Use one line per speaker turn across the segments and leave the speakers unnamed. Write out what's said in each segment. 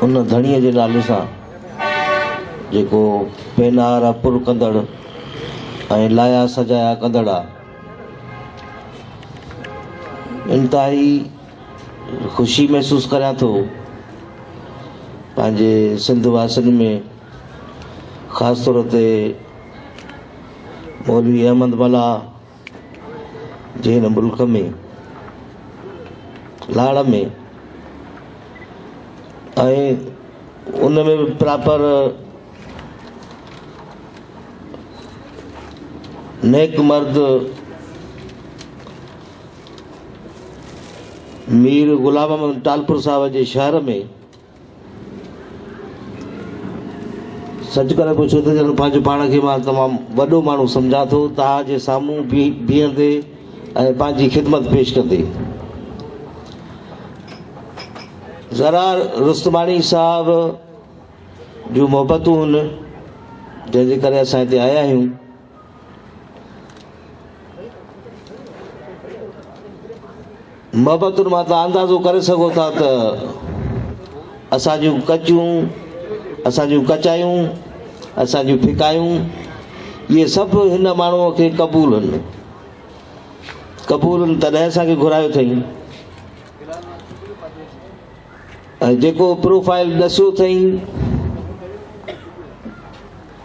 ان ڌڻيء جي نالي سان جيڪو پينار پر ڪندڙ ۽ لايا سجايا ڪندڙ آ. انتهائي خوشي محسوس ڪريان ٿو پنهنجي سنڌ واسين ۾ خاص طور تي مولوي احمد ملاح جي هن ملڪ ۾ لاڙ ۾ ان ۾ به پراپر نيڪ مرد مير غلام محمد ٽالپر صاحب جي شهر ۾ سچ ڪري پڇو ته ڄڻ پنهنجي پاڻ کي مان تمام وڏو ماڻهو سمجهان ٿو، توهان جي سامهون بيهندي ۽ پنهنجي خدمت پيش ڪندي. زرا رستماڻي صاحب جون محبتون هن جنهن جي ڪري اسان هتي آيا آهيون. محبتن مان تان اندازو ڪري سگهو ٿا ته اسان جون ڪچيون اسان جون ڪچايون اسان جون ڦڪايون اهي سڀ هن ماڻهوء کي قبول آهن قبول آهن تڏهن اسان کي گهرايو اٿئي جيڪو پروفائيل ڏسيو اٿئين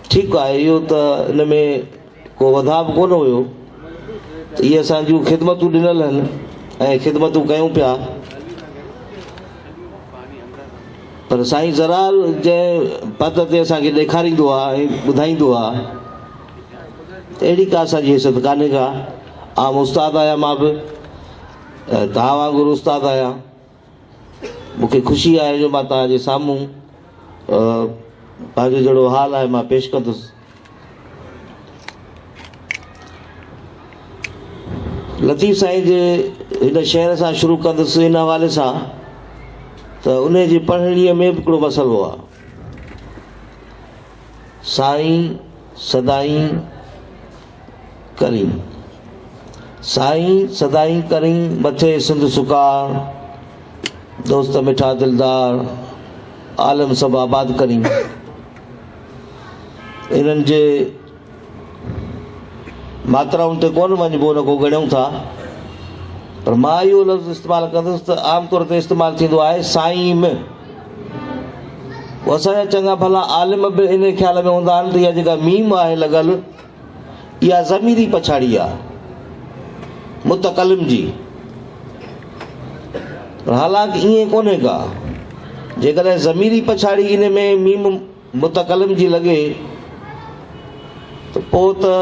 ٺيڪ آهي اهو ته ان ۾ ڪو وڌاء به ڪونه هيو ته اهي اسان جون خدمتون ڏنل هن ۽ خدمتون ڪيون پيا پر سائين زرال جنهن پت تي اسان کي ڏيکاريندو آهي ۽ ٻڌائيندو آهي اهڙي ڪا اسان جي حيثيت ڪانهي ڪا عام استاد آهيان مان به تان وانگر استاد آهيان مون کي خوشي آهي جو مان توهان جي سامهون پنهنجو جهڙو حال آهي مان پيش ڪندس. لطيف سائين جي هن شعر سان شروع ڪندس ان حوالي سان ته ان جي پڙهڻيء ۾ به هڪڙو مسئلو آهي. سائين سدائين ڪرين سائين سدائين ڪرين مٿي سنڌ سکا دوست مٺا دلدار عالم سڀ آباد ڪرين انهن جي ماترائن تي ڪون وڃبو ان کو ڳڻيون ٿا پر مان اهو لفظ استعمال ڪندس ته عام طور تي استعمال ٿيندو آهي سائين م اسان جا چڱا ڀلا عالم به ان خيال ۾ هوندا آهن ته اها جيڪا ميم آهي لڳل اها ضميري پڇاڙي آ متڪلم جي. پر حالانڪ ائين ڪونهي ڪا. جيڪڏهن ضميري پڇاڙي ان ۾ ميم متڪلم جي لڳي ته پوء ته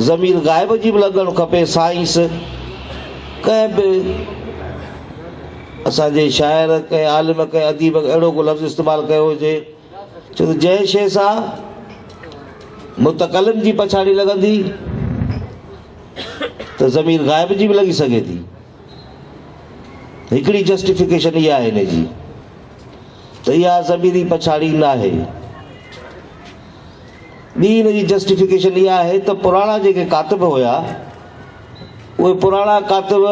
ضمير غائب جي به لڳڻ کپي سائنس ڪنهن به اسان جي شاعر ڪنهن عالم ڪنهن اديب اهڙو ڪو لفظ استعمال ڪيو هجي ڇو ته جنهن شيء سان متڪلم جي پڇاڙي لڳندي ته ضمير غائب جي به لڳي سگهي ٿي. هڪڙي جسٽيفڪيشن اها آهي ان جي ته اها ضميري پڇاڙي ناهي. ٻي ان جي جسٽيفڪيشن اها آهي ته پراڻا جيڪي ڪاتب هيا، اهي پراڻا ڪاتب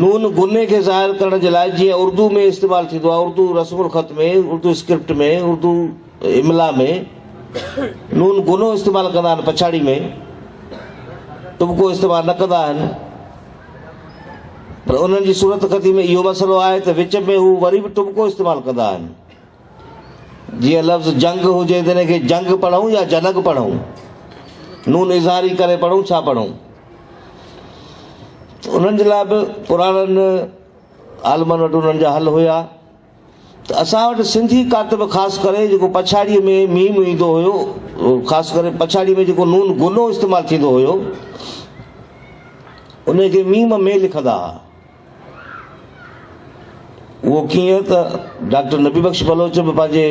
نون غني کي ظاهر ڪرڻ جي لاء جيئن اردو ۾ استعمال ٿيندو آهي، اردو رسم الخط ۾، اردو اسڪرپٽ ۾، اردو املا ۾ نون غنو استعمال ڪندا آهن پڇاڙي ۾ ٽٻڪو استعمال نه ڪندا آهن پر انهن جي صورتخطي ۾ اهو مسئلو آهي ته وچ ۾ هو وري به ٽٻڪو استعمال ڪندا آهن. جيئن لفظ جنگ هجي ته ان کي جنگ پڙهون يا جنگ پڙهون؟ نون اظهاري ڪري پڙهون ڇا پڙهون؟ انهن جي لاء به پراڻن عالمن وٽ انهن جا حل هيا ته اسان وٽ سنڌي ڪاتب خاص ڪري جيڪو پڇاڙيء ۾ ميم ايندو هيو خاص ڪري پڇاڙيء ۾ جيڪو نون غنو استعمال ٿيندو هيو ان کي ميم مي لکندا ها. اهو ڪيئن ته ڊاڪٽر نبي بخش بلوچ به پنهنجي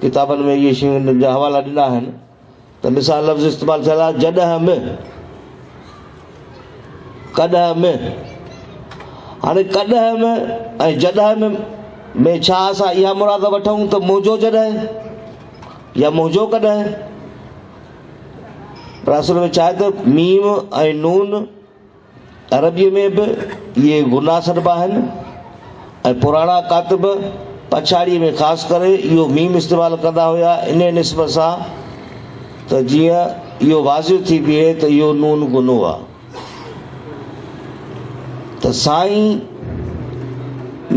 ڪتابن ۾ اهي شيون جا حوالا ڏنا آهن ته مثال لفظ استعمال ٿيل آهي جڏهن ۾ ڪڏهن ۾ هاڻي ڪڏهن ۾ ۽ جڏهن ۾ ۾ ڇا اسان اها مراد وٺون ته منهنجو جڏهن يا منهنجو ڪڏهن پر اصل ۾ ڇا آهي ته ميم ۽ نون عربيء ۾ به اهي غنا سڏبا آهن ۽ پراڻا ڪاتب پڇاڙيء ۾ خاص ڪري اهو ميم استعمال ڪندا هيا انهيء نسبت سان ته جيئن اهو واضح ٿي بيهي ته اهو نون غنو آهي ته سائين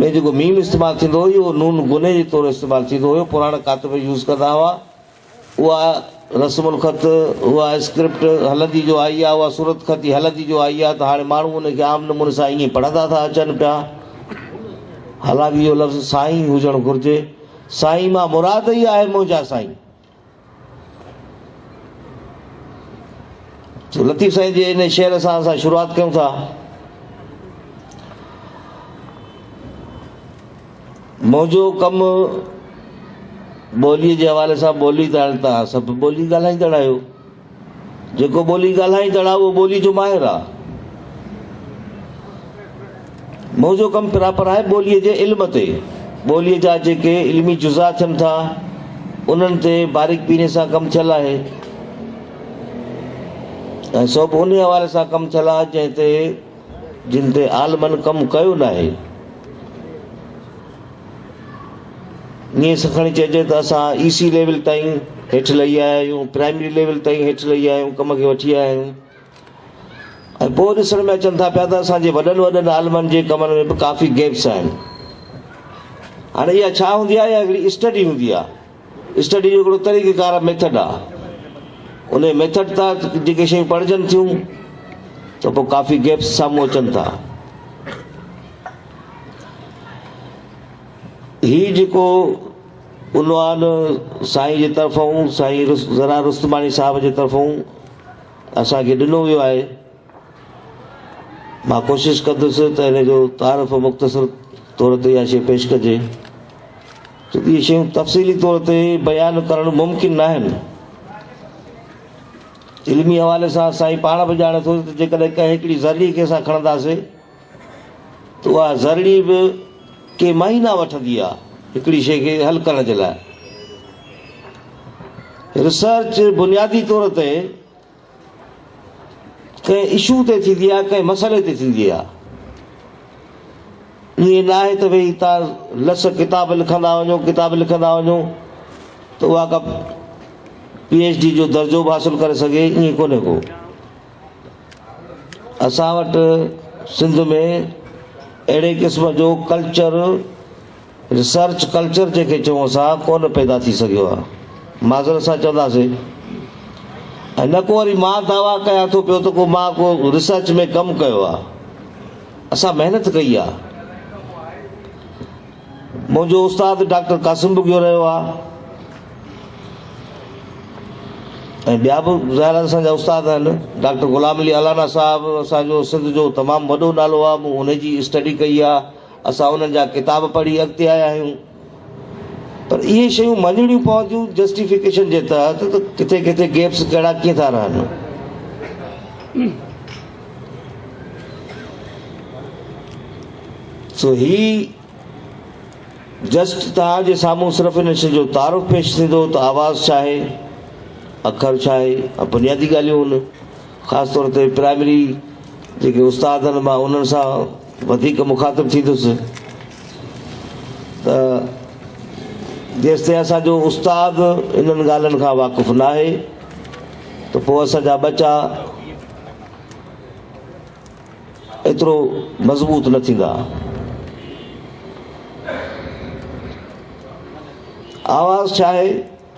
۾ جيڪو ميم استعمال ٿيندو هو اهو نون غني جي طور استعمال ٿيندو هيو پراڻا ڪاتب يوز ڪندا هئا. اها رسم الخط، اها اسڪرپٽ هلندي جو آئي آهي، اها صورتخط ئي هلندي جو آئي آهي ته هاڻي ماڻهو ان کي عام نموني سان ائين پڙهندا ٿا اچن پيا. حالانڪ اهو لفظ سائين هجڻ گهرجي. سائين مان مراد ئي آهي منهنجا سائين. لطيف سائين جي ان شعر سان اسان شروعات ڪيون ٿا. منهنجو ڪم ٻوليء جي حوالي سان ٻولي ته آهي، توهان سڀ ٻولي ڳالهائيندڙ آهيو. جيڪو ٻولي ڳالهائيندڙ آهي اهو ٻولي جو ماهر آهي. منهنجو ڪم پراپر آهي ٻوليء جي علم تي، ٻوليء جا جيڪي علمي جزا ٿين ٿا انهن تي باريڪ بيني سان ڪم ٿيل آهي ۽ سو به ان حوالي سان ڪم ٿيل آهي جنهن تي جن تي عالمن ڪم ڪيو ناهي. ائين سکڻي چئجي ته اسان اي سي ليول تائين هيٺ لهي آيا آهيون، پرائمري ليول تائين هيٺ لهي آيا آهيون، ڪم کي وٺي آيا آهيون ۽ پوء ڏسڻ ۾ اچن ٿا پيا ته اسان جي وڏن وڏن عالمن جي ڪمن ۾ به ڪافي گيپس آهن. هاڻي اها ڇا هوندي آهي؟ اها هڪڙي اسٽڊي هوندي آهي. اسٽڊي جو هڪڙو طريقه ڪار ميٿڊ آ انهي ميٿڊ تحت جيڪي شيون پڙهجن ٿيون ته پوء ڪافي گيپس سامهون اچن ٿا هي جيڪو عنوان سائين جي طرفون سائين زرار رستماڻي صاحب جي طرفون اسان کي ڏنو ويو آهي مان ڪوشش ڪندس ته ان جو تعارف مختصر طور تي اها شيء پيش ڪجي ڇو ته اهي شيون تفصيلي طور تي بيان ڪرڻ ممڪن ناهن. علمي حوالي سان سائين پاڻ به ڄاڻي ٿو ته جيڪڏهن ڪنهن هڪڙي ذرڙي کي اسان کڻنداسين ته اها ذرڙي به ڪي مهينا وٺندي آهي هڪڙي شيء کي حل ڪرڻ جي لاء. ريسرچ بنيادي طور تي ڪنهن اشو تي ٿيندي آهي ڪنهن مسئلي تي ٿيندي آهي ائين ناهي ته ڀئي تان لس ڪتاب لکندا وڃو ڪتاب لکندا وڃو ته اها ڪا پي ايچ ڊي جو درجو به حاصل ڪري سگهي ائين ڪونهي ڪو اسان وٽ سنڌ ۾ اهڙي قسم جو ڪلچر ريسرچ ڪلچر جنهن کي چئون اسان ڪونه پيدا ٿي سگهيو آهي معذرت سان چونداسين ۽ نه ڪو وري مان دعويٰ ڪيان ٿو پيو ته ڪو مان ڪو ريسرچ ۾ ڪم ڪيو آهي اسان محنت ڪئي آهي منهنجو استاد ڊاڪٽر قاسم بگيو رهيو آهي ۽ ٻيا به ظاهر آهي اسان جا استاد آهن ڊاڪٽر غلام علي الانا صاحب اسانجو سنڌ جو تمام وڏو نالو آهي مون ان جي اسٽڊي ڪئي آهي اسان انهن جا ڪتاب پڙهي اڳتي آيا آهيون پر اهي شيون مڃڻيون پونديون جسٽيفڪيشن جي تحت ته ڪٿي ڪٿي گيپس ڪهڙا ڪيئن ٿا رهن. سو هي جسٽ توهان جي سامهون صرف ان شي جو تعارف پيش ٿيندو ته آواز ڇا آهي اکر ڇا آهي بنيادي ڳالهيون هن خاص طور تي پرائمري جيڪي استاد آهن مان انهن سان وڌيڪ مخاطب ٿيندس ته جيستائين اسان جو استاد انهن ڳالهين کان واقف ناهي ته پوء اسان جا ٻچا ايترو مضبوط نه ٿيندا آواز ڇا آهي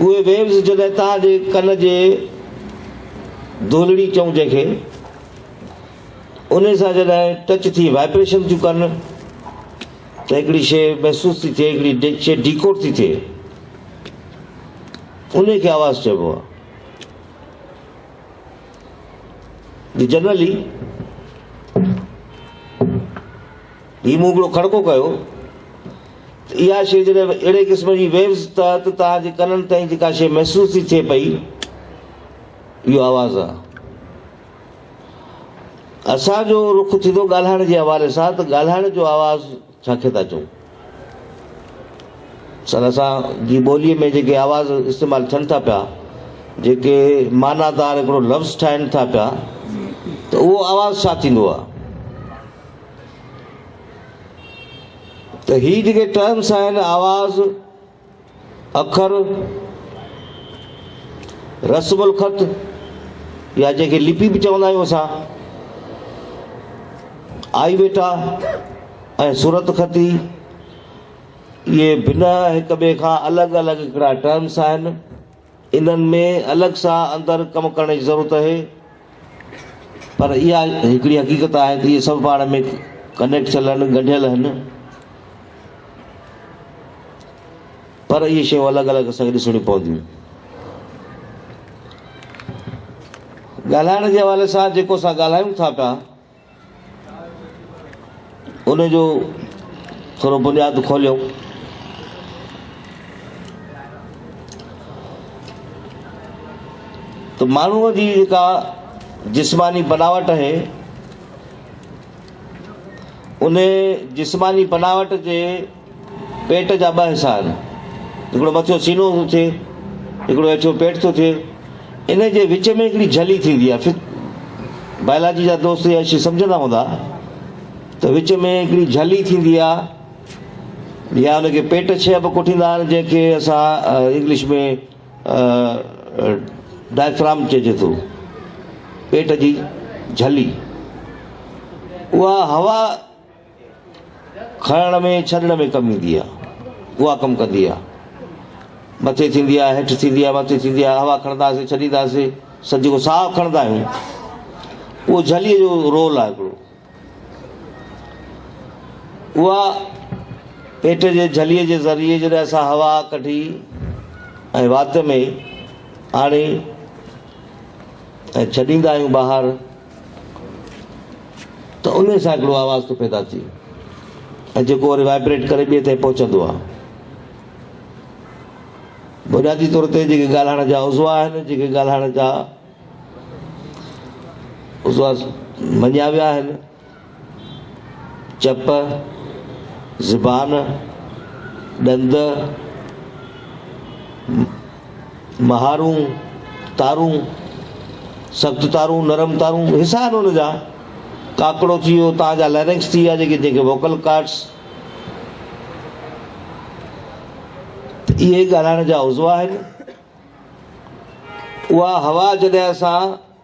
اهي ويوز جڏهن توهان جي ڪن جي دولڙي چئون جنهن کي ان سان جڏهن ٽچ ٿي وائبريشن ٿيون ڪن ته هڪڙي شيء محسوس ٿي ٿئي هڪڙي شيء ڊيڪوڊ ٿي ٿئي ان کي آواز چئبو آهي جنرلي هي مون هڪڙو کڙڪو ڪيو ته اها شيء جڏهن به اهڙي قسم جي ويوز تحت توهان جي ڪنن تائين جيڪا شيء محسوس ٿي ٿئي پئي اهو آواز آهي. اسان جو رخ ٿيندو ڳالهائڻ جي حوالي سان ته ڳالهائڻ جو آواز ڇا کي ٿا چئون؟ سر اسان جي ٻوليء ۾ جيڪي آواز استعمال ٿين ٿا پيا جيڪي معنيٰ دار هڪڙو لفظ ٺاهين ٿا پيا ته اهو آواز ڇا ٿيندو آهي؟ ته هي جيڪي ٽرمس آهن آواز، اکر، رسم الخط يا جنهن کي لپي به چوندا آهيون اسان، آئي ويٽا ۽ صورت خطي اهي بنهه هڪ ٻئي کان الڳ الڳ هڪڙا ٽرمس آهن. انهن ۾ الڳ سان اندر ڪم ڪرڻ جي ضرورت اهي پر اها هڪڙي حقيقت آهي ته اهي سڀ پاڻ ۾ ڪنيڪٽ ٿيل آهن، ڳنڍيل آهن پر اهي شيون الڳ الڳ اسان کي ڏسڻيون پونديون. ڳالهائڻ جي حوالي سان جيڪو اسان ڳالهايون ٿا پيا. ان جو ٿورو بنياد کوليو. ته ماڻهوء جي جيڪا جسماني بناوٽ آهي ان جسماني بناوٽ جي پيٽ جا ٻه حصا آهن. هڪڙو مٿيون سينو ٿو ٿئي، هڪڙو هيٺيون پيٽ ٿو ٿئي. انهي جي وچ ۾ هڪڙي جھلي ٿيندي آهي. بائلاجي جا دوست اها شيء سمجھندا هوندا ته وچ ۾ هڪڙي جھلي ٿيندي آهي يا ان کي پيٽ ڇهه به ڪوٺيندا آهن جنهن کي اسان انگلش ۾ Diaphragm چئجي ٿو. پيٽ جي جھلي اها هوا کڻڻ ۾ ڇڏڻ ۾ ڪم ايندي آ اها ڪم ڪندي آ مٿي ٿيندي آ هيٺ ٿيندي آ مٿي ٿيندي آ هوا کڻنداسي ڇڏينداسي سج جيڪو ساهه کڻندا آهيون اهو جھلي جو رول آ هڪڙو اها پيٽ جي جھلي جي ذريعي جڏهن اسان هوا ڪڍي ۽ وات ۾ آڻي ۽ ڇڏيندا آهيون ٻاهر ته انهي سان هڪڙو آواز ٿو پيدا ٿئي ۽ جيڪو وري وائبريٽ ڪري ٻئي تائين پهچندو آهي. بنيادي طور تي جيڪي ڳالهائڻ جا عضوا آهن، جيڪي ڳالهائڻ جا عضوا مڃيا ويا آهن، چپ، زبان، ڏند، مهارون، تارون، سخت تارون، نرم تارون، حصا آهن ان جا. ڪاڪڙو ٿي ويو، تان جا ليرنڪس ٿي ويا جيڪي جنهن کي ووڪل ڪارڊس ته اهي ڳالهائڻ جا عضوا آهن. اها هوا جڏهن اسان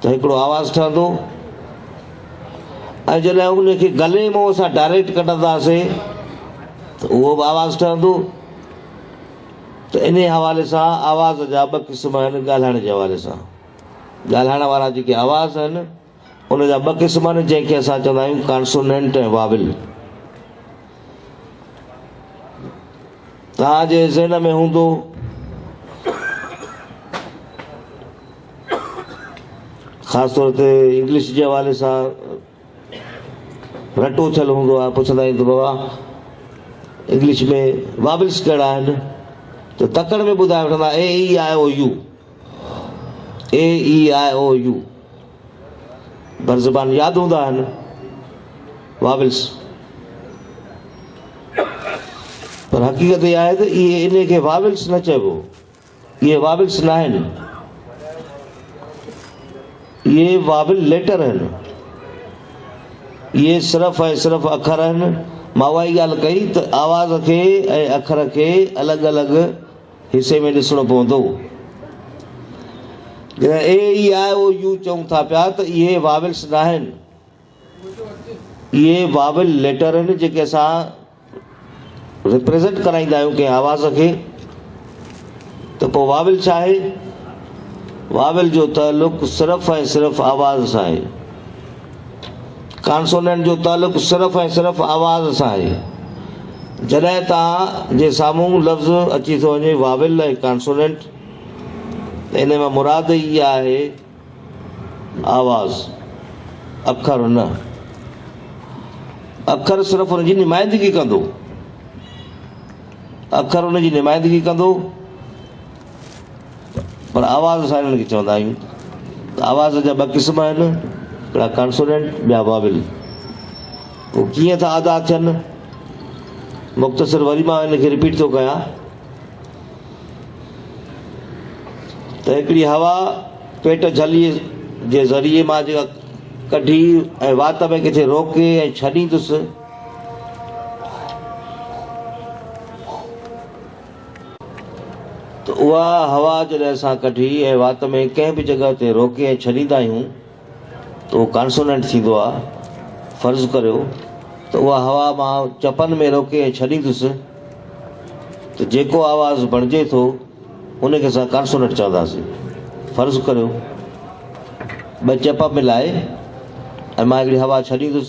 ته هڪڙو آواز ٺهندو ۽ جڏهن ان کي گلي منهن سان ڊائريڪٽ ڪڍنداسين ته اهو به آواز ٺهندو ته انهي حوالي سان آواز جا ٻه قسم آهن ڳالهائڻ جي حوالي سان ڳالهائڻ وارا جيڪي آواز آهن ان جا ٻه قسم آهن جنهن کي اسان چوندا آهيون ڪانسونينٽ ۽ واول توهان جي ذهن ۾ هوندو خاص طور تي انگلش جي حوالي سان رٽو ٿيل هوندو آهي پڇندا آهن ته بابا انگلش ۾ وابلس ڪهڙا آهن ته تڪڙ ۾ ٻڌائي وٺندا A E I O U A E I O U بر زبان ياد هوندا آهن وابلس پر حقيقت اها آهي ته اهي ان کي وابلس نه چئبو اهي واولس ناهن، اهي واول ليٽر آهن. اهي صرف ۽ صرف اکر آهن. مان اها ئي ڳالهه ڪئي ته آواز کي ۽ اکر کي الڳ الڳ حصي ۾ ڏسڻو پوندو. جڏهن اي، اي، آء، او، يو چئون ٿا پيا ته اهي واولس ناهن، اهي واول ليٽر آهن جيڪي اسان ريپريزنٽ ڪرائيندا آهيون ڪنهن آواز کي ته پوء واول ڇا آهي؟ واول جو تعلق صرف ۽ صرف آواز سان آهي. ڪانسونينٽ جو تعلق صرف ۽ صرف آواز سان آهي. جڏهن توهان جي سامهون لفظ اچي ٿو وڃي واول ۽ ڪانسونينٽ ته ان مان مراد ئي اها آهي آواز، اکر نه. اکر صرف ان جي نمائندگي ڪندو. اکر ان جي نمائندگي ڪندو پر آواز اسان هنن کي چوندا آهيون ته آواز جا ٻه قسم آهن هڪڙا ڪانسونينٽ ٻيا واول هو ڪيئن ٿا ادا ٿين مختصر وري مان هن کي رپيٽ ٿو ڪيان ته هڪڙي هوا پيٽ جهليء جي ذريعي مان جيڪا ڪڍي ۽ وات ۾ ڪٿي روڪي ۽ ڇڏيندس، ته اها هوا جڏهن اسان ڪڍي ۽ وات ۾ ڪنهن به جڳهه تي روڪي ۽ ڇڏيندا آهيون، اهو ڪانسوننٽ ٿيندو آهي. فرض ڪريو ته اها هوا مان چپن ۾ روڪي ۽ ڇڏيندس ته جيڪو آواز بڻجي ٿو ان کي اسان ڪانسوننٽ چونداسين. فرض ڪريو ٻه چپ ملائي ۽ مان هڪڙي هوا ڇڏيندس.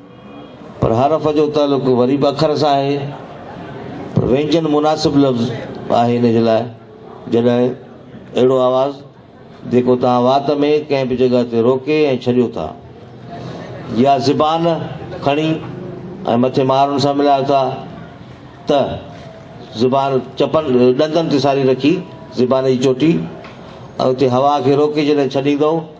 پر حرف جو تعلق وري به اکر سان آهي، پر وينجن مناسب لفظ آهي ان جي لاء، جڏهن اهڙو آواز جيڪو توهان وات ۾ ڪنهن به جڳهه تي روڪي ۽ ڇڏيو ٿا، يا زبان کڻي ۽ مٿي مارن سان ملايو ٿا ته زبان چپن ڏندن تي ساري رکي زبان جي چوٽي ۽ اتي هوا کي روڪي جڏهن ڇڏيندؤ،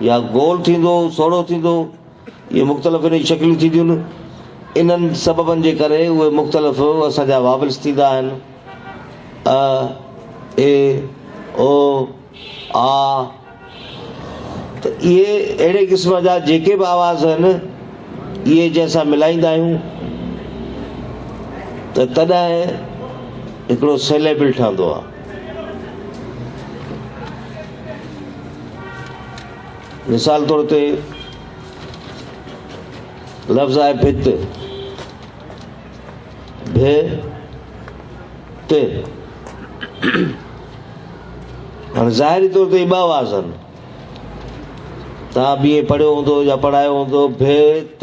يا گول ٿيندو، سوڙهو ٿيندو، اهي مختلف انهيء جون شڪليون ٿينديون. انهن سببن جي ڪري اهي مختلف اسان جا واويلز ٿيندا آهن، ا، اي، او، آ، ته اهي اهڙي قسم جا جيڪي به آواز آهن، اهي جي اسان ملائيندا آهيون ته تڏهن هڪڙو سيليبل ٺهندو آهي. مثال طور تي لفظ آهي ڀت ڀي ت هاڻي ظاهري طور تي ٻه آواز آهن توهان به ائين پڙهيو هوندو يا پڙهايو هوندو ڀي ت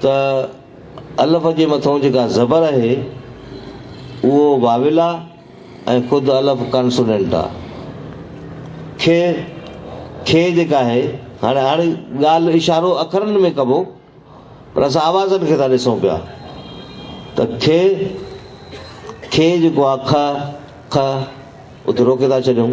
ته الف جي مٿئون جيڪا زبر آهي اهو واويل آ ۽ خود الف ڪانسونينٽ آ. کي، کي جيڪا آهي هاڻي هاڻي ڳالهه اشارو اکرن ۾ ڪبو پر اسان آوازن کي ٿا ڏسون پيا ته کي، کي جيڪو آ که، که اتي روڪي ٿا ڇڏيون.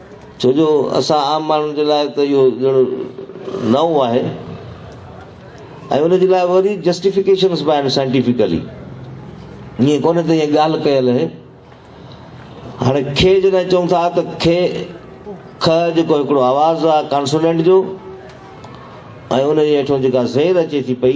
ڇو جو اسان عام ماڻهن جي لاء ته اهو ڄڻ نئون آهي ۽ ان جي لاء وري جسٽيفڪيشنس به آهن سائنٽيفڪلي ائين ڪونهي ته ائين ڳالهه ڪيل اهي هاڻي کي جڏهن چون ٿا ته کي که جيڪو هڪڙو آواز آهي ڪانسونينٽ جو ۽ ان جي هيٺون جيڪا زير اچي ٿي پئي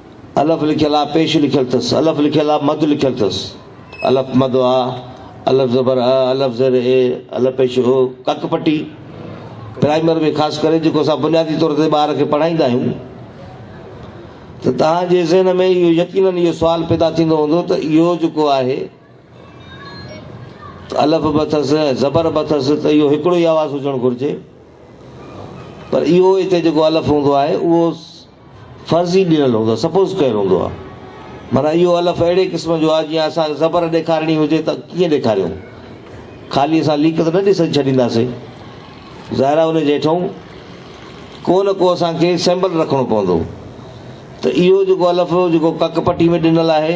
الف لکيل آ، پيش لکيل ٿس، الف لکيل آ، مد لکيل ٿس، الف مد آ، الف زبر ا، الف زير اي، الف پيش او، ڪک پٽي. پرائمري ۾ خاص ڪري جيڪو اسان بنيادي طور تي ٻار کي پڙهائيندا آهيون ته توهان جي ذهن ۾ اهو يقينن اهو سوال پيدا ٿيندو هوندو ته اهو جيڪو آهي ته الف به اٿس ۽ زبر به اٿس ته اهو هڪڙو ئي آواز هجڻ گهرجي پر اهو هتي جيڪو الف هوندو آهي اهو فرضي ڏنل هوندو آهي، Suppose ڪيل هوندو آهي. معنيٰ اهو الف اهڙي قسم جو آهي، جيئن اسان کي زبر ڏيکارڻي هجي ته ڪيئن ڏيکاريون؟ خالي اسان ليڪ ته نه ڏئي ڇڏينداسين. ظاهر آهي ان جي هيٺئون ڪو نه ڪو اسان کي سيمبل رکڻو پوندو. ته اهو جيڪو الف جيڪو ڪڪ پٽي ۾ ڏنل آهي،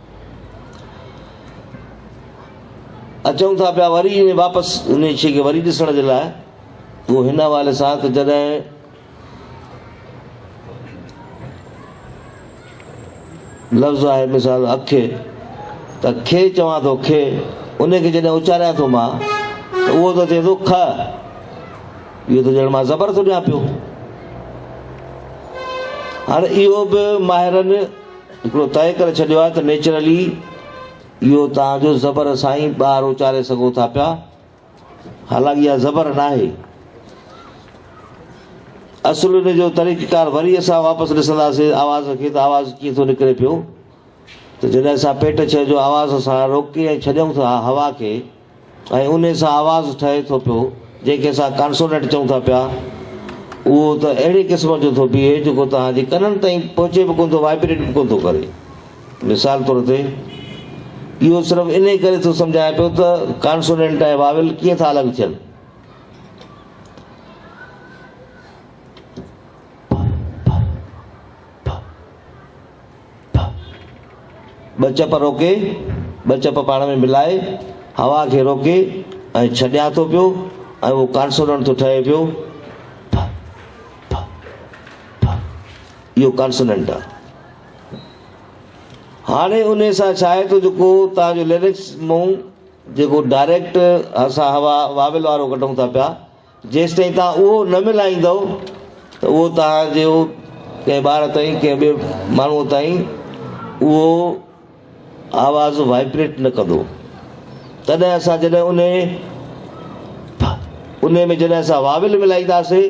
اچون ٿا پيا وري انهي واپس انهي شيء کي وري ڏسڻ جي لاء اهو هن حوالي سان ته جڏهن لفظ آهي مثال اک ته کي چوان ٿو کي ان کي جڏهن اچاريان ٿو مان ته اهو ته چئي ٿو که اهو ته ڄڻ مان زبر ٿو ڏيان پيو هاڻي اهو به ماهرن هڪڙو طئي ڪري ڇڏيو آهي ته نيچرلي اهو توهان جو زبر سان ئي ٻار اچاري سگهو ٿا پيا، حالانڪ اها زبر ناهي. اصل ان جو طريقيڪار وري اسان واپس ڏسنداسين آواز کي ته آواز ڪيئن ٿو نڪري پيو ته جڏهن اسان پيٽ ڇهه جو آواز سان روڪي ۽ ڇڏيون ٿا هوا کي، ۽ انهي سان آواز ٺهي ٿو پيو، جنهن کي اسان ڪانسونينٽ چئون ٿا پيا، اهو ته اهڙي قسم جو ٿو بيهي، جيڪو توهان جي ڪنن تائين پهچي به ڪونه ٿو، وائبريٽ به ڪونه ٿو ڪري. مثال طور تي، اهو صرف انهي ڪري ٿو سمجهائي پيو ته ڪانسونينٽ ۽ واويل ڪيئن ٿا الڳ ٿين. ٿا. ٻه چپ روڪي، ٻه چپ پاڻ ۾ ملائي، هوا کي روڪي ۽ ڇڏيان ٿو پيو ۽ اهو ڪانسوننٽ ٿو ٺهي پيو، ٿ، ٿ، ٿ. اهو ڪانسوننٽ آهي. هاڻي انهي سان ڇا آهي ته جيڪو توهان جو ليرڪس مون جيڪو ڊائريڪٽ اسان هوا واويل وارو ڪڍون ٿا پيا، جيستائين توهان اهو نه ملهائيندؤ ته اهو توهان جي ڪنهن ٻار تائين، ڪنهن ٻئي ماڻهوء تائين اهو آواز وائبريٽ نه ڪندو. تڏهن اسان جڏهن انهيء، پ، انهيء ۾ جڏهن اسان واويل ملهائينداسين،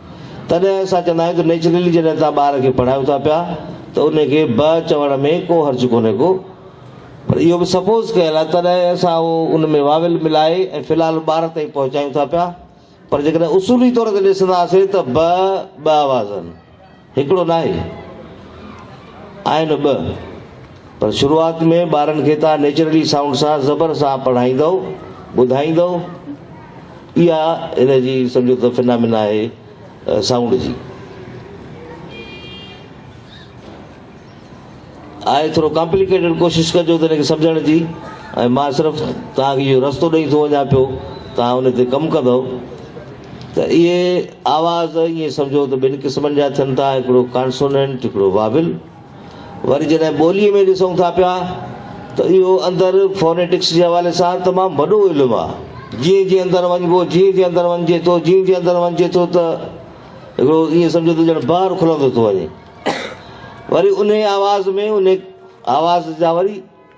تڏهن اسان چوندا آهيون ته نيچرلي جڏهن توهان ٻار کي پڙهايو ٿا پيا ته ان کي به چوڻ ۾ ڪو حرج ڪونهي ڪو پر اهو به سپوز ڪيل آهي تڏهن اسان اهو ان ۾ واويل ملائي ۽ في الحال ٻار تائين پهچايون ٿا پيا پر جيڪڏهن اصولي طور تي ڏسنداسين ته به ٻه آواز آهن هڪڙو ناهي آهن ٻه. پر شروعات ۾ ٻارن کي تان نيچرلي سائونڊ سان زبر سان پڙهائيندؤ ٻڌائيندؤ اها هن جي سمجهو ته فنامنا آهي سائونڊ جي آء ٿورو ڪامپليڪيٽيڊ ڪوشش ڪجو ته هن کي سمجهڻ جي ۽ مان صرف توهان کي اهو رستو ڏئي ٿو وڃان پيو توهان ان تي ڪم ڪندؤ ته اهي آواز ائين سمجهو ته ٻن قسمن جا ٿين ٿا هڪڙو ڪانسونينٽ هڪڙو واول وري جڏهن ٻوليء ۾ ڏسون ٿا پيا ته اهو اندر فونيٽڪس جي حوالي سان تمام وڏو علم آهي. جيئن جيئن اندر وڃبو، جيئن جيئن اندر وڃجي ٿو، جيئن جيئن اندر وڃجي ٿو ته هڪڙو ائين سمجهو ته ڄڻ بار کلندو ٿو وڃي. وري انهيء آواز ۾ انهيء آواز جا وري.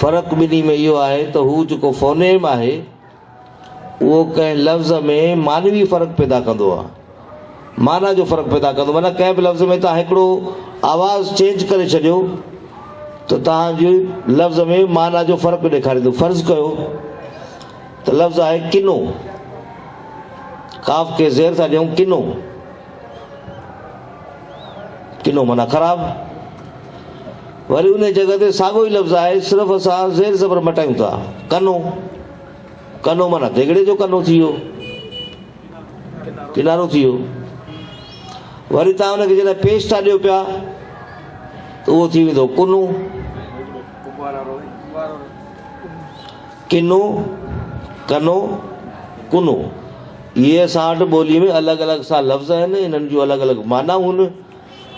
فرق ٻنهي ۾ اهو آهي ته هو جيڪو فونيم آهي اهو ڪنهن لفظ ۾ معنوي فرق پيدا ڪندو آهي، معنيٰ جو فرق پيدا ڪندو معنيٰ ڪنهن به لفظ ۾ توهان هڪڙو آواز چينج ڪري ڇڏيو ته توهان جي لفظ ۾ معنيٰ جو فرق ڏيکاريندو فرض ڪيو ته لفظ آهي ڪنو، قاف کي زير ٿا ڏيون ڪنو. ڪنو معنيٰ خراب. وري انهيء جڳهه تي ساڳيو ئي لفظ آهي، صرف اسان زير زبر مٽايون ٿا. ڪنو، ڪنو معنيٰ ديڳڙي جو ڪنو ٿي ويو، ڪنارو ٿي ويو. وري توهان ان کي جڏهن پيش ٿا ڏيو پيا ته اهو ٿي ويندو ڪنو. ڪنو، ڪنو، ڪنو، اهي اسان وٽ ٻوليء ۾ الڳ الڳ سا لفظ آهن، انهن جون الڳ الڳ معنيٰ هون،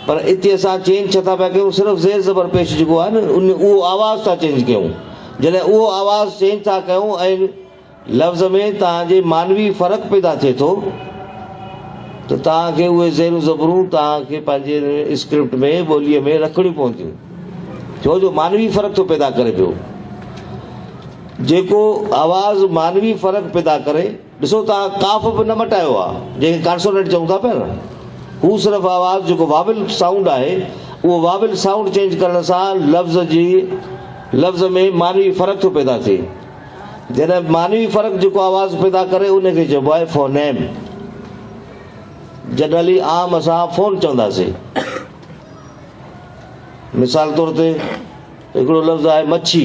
پر اتي اسان چينج ڇا ٿا پيا ڪيون صرف زير زبر پيش جيڪو آهي نه ان اهو آواز ٿا چينج ڪيون، جڏهن اهو آواز چينج ٿا ڪيون ۽ لفظ ۾ توهان جي معنوي فرق پيدا ٿئي ٿو ته توهان کي اهي زيرون زبرون توهان کي پنهنجي اسڪرپٽ ۾ ٻوليء ۾ رکڻيون پونديون. ڇو جو معنوي فرق ٿو پيدا ڪري پيو. جيڪو آواز معنوي فرق پيدا ڪري. ڏسو توهان قاف به نه مٽايو آهي جنهن کي ڪانسونينٽ چئون ٿا پيا نه. هو صرف آواز جيڪو واول سائونڊ آهي اهو واول سائونڊ چينج ڪرڻ سان لفظ جي لفظ ۾ معنوي فرق ٿو پيدا ٿئي. جڏهن معنوي فرق جيڪو آواز پيدا ڪري ان کي چئبو آهي فونيم. جنرلي عام اسان فون چونداسين. مثال طور تي هڪڙو لفظ آهي مڇي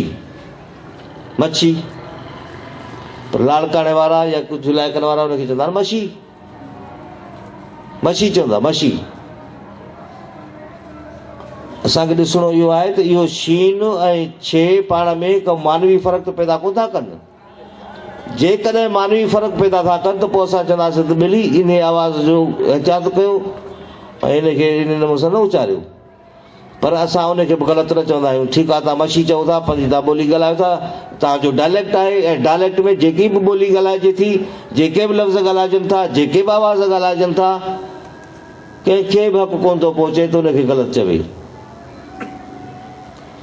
مڇي لاڙڪاڻي وارا يا ڪجهه علائقن وارا هن کي چوندا آهن مشي مشي چوندا مشي اسان کي ڏسڻو اهو آهي ته اهو شين ۽ ڇي پاڻ ۾ ڪو معنوي فرق ته پيدا ڪو ٿا ڪن جيڪڏهن معنوي فرق پيدا ٿا ڪن ته پوء اسان چونداسين ته ٻلي انهيء آواز جو احتياط ڪيو ۽ ان کي انهيء نموني سان نه اچاريو. پر اسان ان کي به غلط نه چوندا آهيون. ٺيڪ آهي، توهان مشي چئو ٿا، پنهنجي توهان ٻولي ڳالهايو ٿا، توهان جو ڊائليڪٽ آهي ۽ ڊائليڪٽ ۾ جيڪي به ٻولي ڳالهائجي ٿي، جيڪي به لفظ ڳالهائجن ٿا، جيڪي به آواز ڳالهائجن ٿا، ڪنهن کي به حق ڪونه ٿو پهچي ته ان کي غلط چوي.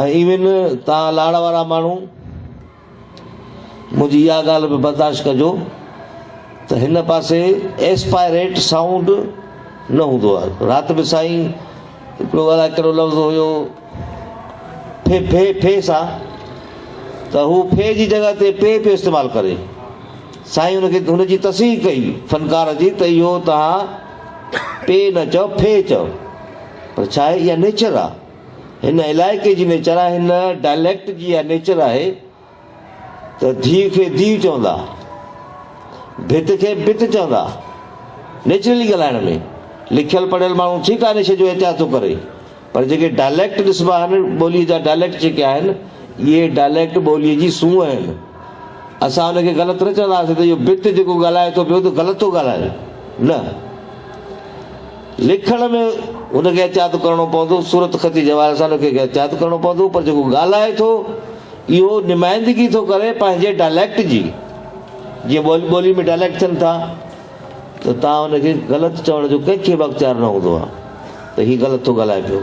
۽ ايون توهان لاڙ وارا ماڻهو منهنجي اها ڳالهه به برداشت ڪجو ته هن پاسي ايسپائريٽ سائونڊ نه هوندو آهي رات به سائين هڪڙو الائي ڪهڙو لفظ هيو ڦي ڦي ڦي سان ته هو ڦي جي جڳهه تي پي پيو استعمال ڪري سائين هن کي هن جي تصحيح ڪئي فنڪار جي ته اهو توهان پي نه چئو ڦي چئو پر ڇا آهي؟ اها نيچر آ. هن علائقي جي نيچر آ. هن ڊائليڪٽ جي اها نيچر آهي ته ڌيء کي ڌيء چوندا، ڀت کي بت چوندا. نيچرلي ڳالهائڻ ۾، لکيل پڙهيل ماڻهو ٺيڪ آ نيچر جو احتياط ٿو ڪري، پر جيڪي ڊائليڪٽ ڏسبا آهن، ٻوليء جا ڊائليڪٽ جيڪي آهن، اهي ڊائليڪٽ ٻوليء جي سونهن آهن. اسان ان کي غلط نه چونداسين ته اهو ڀت جيڪو ڳالهائي ٿو پيو ته غلط ٿو ڳالهائي. نه. لکڻ ۾ هن کي احتياط ڪرڻو پوندو، صورت خطي جي حوالي سان هن کي احتياط ڪرڻو پوندو پر جيڪو ڳالهائي ٿو اهو نمائندگي ٿو ڪري پنهنجي ڊائليڪٽ جي، جيئن ٻولي ٻولي ۾ ڊائليڪٽ ٿين ٿا ته تان هن کي غلط چوڻ جو ڪنهن کي به اختيار نه هوندو آهي ته هي غلط ٿو ڳالهائي پيو.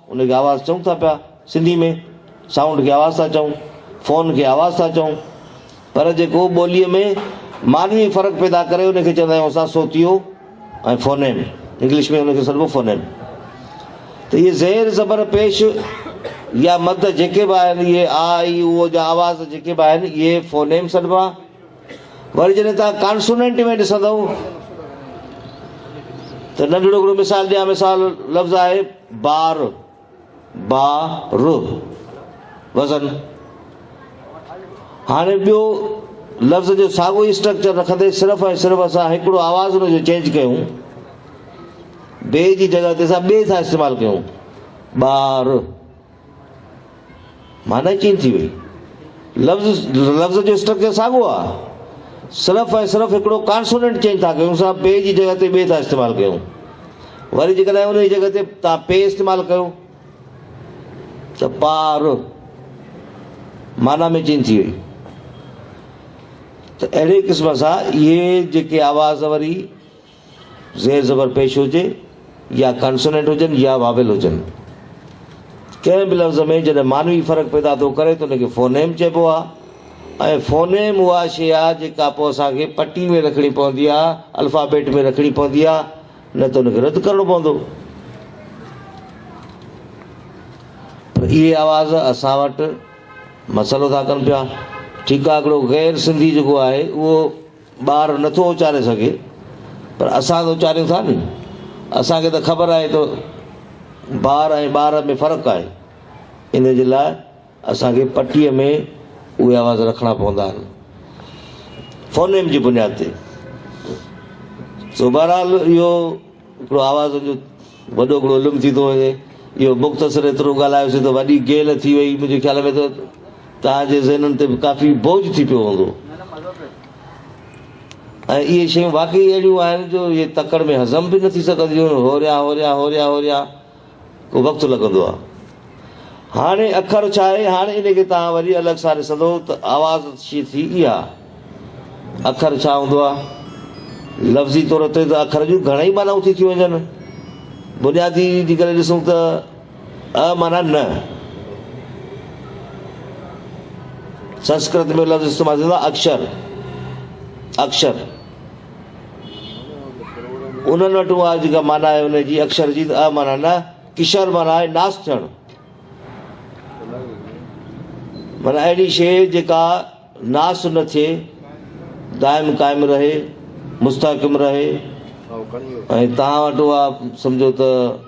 ان کي آواز چئون ٿا پيا سنڌي ۾ سائونڊ کي آواز ٿا چئون فون کي آواز ٿا چئون پر جيڪو ٻولي ۾ معنوي فرق پيدا ڪري ان کي چوندا آهيون اسان صوتيو ۽ فونيم انگلش ۾ ان کي سڏبو فونيم ته اهي زير زبر پيش يا مد جيڪي به آهن اهي آ اي او جا آواز جيڪي به آهن اهي فونيم سڏبا وري جڏهن توهان ڪانسونينٽ ۾ ڏسندؤ ته ننڍڙو هڪڙو مثال ڏيان مثال لفظ آهي بار با ر وزن هاڻي ٻيو لفظ جو ساڳو ئي اسٽرڪچر رکندي صرف ۽ صرف اسان هڪڙو آواز ان جو چينج ڪيون بي جي جڳهه تي اسان بي ٿا استعمال ڪيون بار معني چينج ٿي وئي. لفظ لفظ جو اسٽرڪچر ساڳو آ. صرف ۽ صرف هڪڙو ڪانسوننٽ چينج ٿا ڪيون سا پي جي جڳهه تي بي ٿا استعمال ڪيون. وري جيڪڏهن انهي جڳهه تي تان پي استعمال ڪيو ته پا ر معنيٰ ۾ چينج ٿي وئي. ته اهڙي قسم سان اهي جيڪي آواز وري زير زبر پيش هجي يا ڪانسونينٽ هجن يا واويل هجن. ڪنهن به لفظ ۾ جڏهن معنوي فرق پيدا ٿو ڪري ته ان کي فونيم چئبو آهي ۽ فونيم اها شيء آهي جيڪا پوء اسان کي پٽي ۾ رکڻي پوندي آهي، الفابيٽ ۾ رکڻي پوندي آهي نه ته ان کي رد ڪرڻو پوندو. پر اهي آواز اسان وٽ مسئلو ٿا ڪن پيا. ٺيڪ آهي هڪڙو غير سنڌي جيڪو آهي اهو ٻار نه ٿو اچاري سگهي پر اسان ته اچاريون ٿا ني. اسان کي ته خبر آهي ته بار ۽ ٻار ۾ فرق آهي. ان جي لاء اسان کي پٽيء ۾ اهي آواز رکڻا پوندا آهن. فونيم جي بنياد تي. سو بهرحال اهو هڪڙو آواز جو وڏو هڪڙو علم ٿي ٿو وڃي. اهو مختصر ايترو ڳالهايوسين ته وڏي گيل ٿي وئي. منهنجي خيال ۾ ته توهان جي ذهنن تي به ڪافي بوجهه ٿي پيو هوندو ۽ اهي شيون واقعي اهڙيون آهن جو اهي تڪڙ ۾ هضم به نه ٿي سگهنديون آهن. هوريان هوريان هوريان هوريان ڪو وقت لڳندو آهي. هاڻي اکر ڇا آهي؟ هاڻي ان کي توهان وري الڳ سان ڏسندو ته آواز شي ٿي اها. اکر ڇا هوندو آهي؟ لفظي طور تي ته اکر جون گهڻائي معنائون ٿي ٿيون وڃن. بنيادي جي ڪري ڏسون ته اء معنيٰ نه. سنسڪرت ۾ لفظ استعمال ٿيندو آهي اڪشر، Akshar. انهن وٽ اها جيڪا معنيٰ آهي ان جي اڪشر جي ته اء معنيٰ نه، ڪشر معنيٰ آهي ناس ٿيڻ. معنيٰ اهڙي شيء جيڪا ناس نه ٿئي، دائم قائم رهي، مستحڪم رهي ۽ توهان وٽ اها سمجهو ته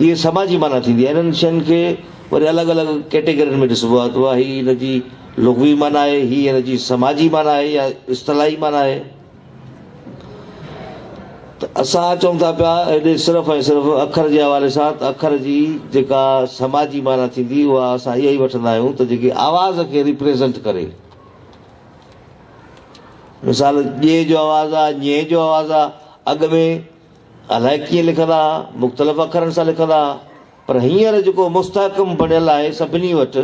اهي سماجي معنيٰ ٿيندي آهي. انهن شين کي وري الڳ الڳ ڪيٽيگرين ۾ ڏسبو آهي ته اها هي ان جي لغوي معنيٰ آهي، هي ان جي سماجي معنيٰ آهي يا اصطلاحي معنيٰ آهي. ته اسان چئون ٿا پيا هيڏي صرف ۽ صرف اکر جي حوالي سان ته اکر جي جيڪا سماجي معنيٰ ٿيندي اها اسان اها ئي وٺندا آهيون ته جيڪي آواز کي ريپريزنٽ ڪري. مثال، ڄي جو آواز آ، ڃي جو آواز آ، اڳ ۾ الائي ڪيئن لکندا ھئا، مختلف اکرن سان لکندا ھئا، پر ھينئر جيڪو مستحڪم بڻيل آھي سڀني وٽ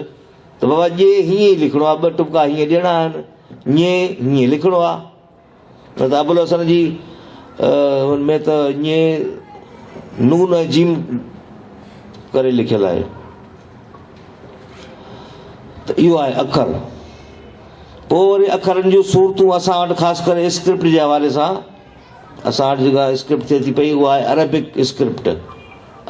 ته بابا ڄي ھيئن ئي لکڻو آھي، ٻه ٽپڪا ھيئن ڏيڻا آھن، ڃي ھيئن لکڻو آھي. پر ته ابوالحسن جي ان ۾ ته ڃي نون ۽ جيم ڪري لکيل آھي. ته اھو آھي اکر. پوء وري اکرن جون صورتون اسان وٽ خاص ڪري اسڪرپٽ جي حوالي سان اسان وٽ جيڪا اسڪرپٽ ٿئي ٿي پئي اها آهي عربڪ اسڪرپٽ